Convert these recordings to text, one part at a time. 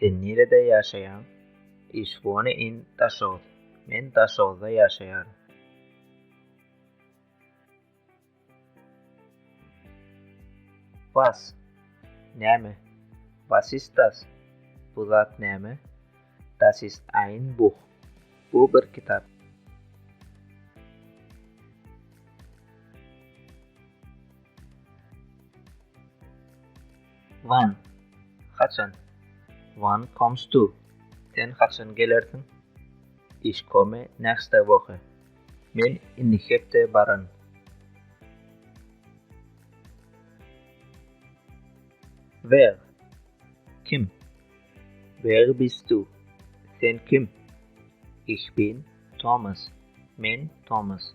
Sen nirede ýaşaýaň? Ich wohne in Daşoguz. Men Daşoguzda ýaşaýaryn. Was? Näme? Was ist das? Bu zat näme? Das ist ein Buch. Bu bir kitap. Wan, Haçan? Wan komst du? Sen haçan gelersiň? Ich komme nächste Woche. Men indiki hepde baran. Wer, Kim? Wer bist du? Sen kim? Ich bin Thomas. Men Thomas.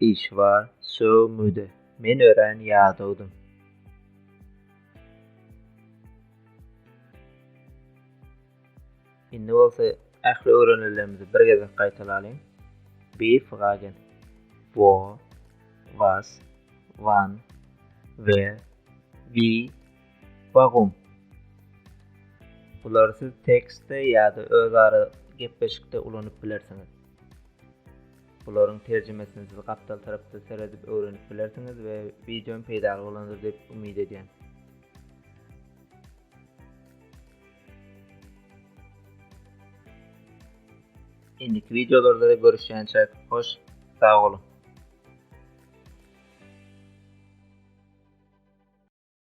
Işwar sögmüde men örän ýadawdym. Indi bolsa ähli öwrenilerimizi bir gezek gaýtalalyň. Bi fragen. Wo, was, wan, wer, wi, wagum. Bulary siz tekstde ýa-da özara gepleşikde ulanyp bilersiňiz. Bularyň terjimesini siz gapdal tarapda seredip öwrenip bilersiňiz we wideom peýdaly bolandyr diýip umyt edýän. Indiki videolarda görüşýänçäk hoş sag boluň.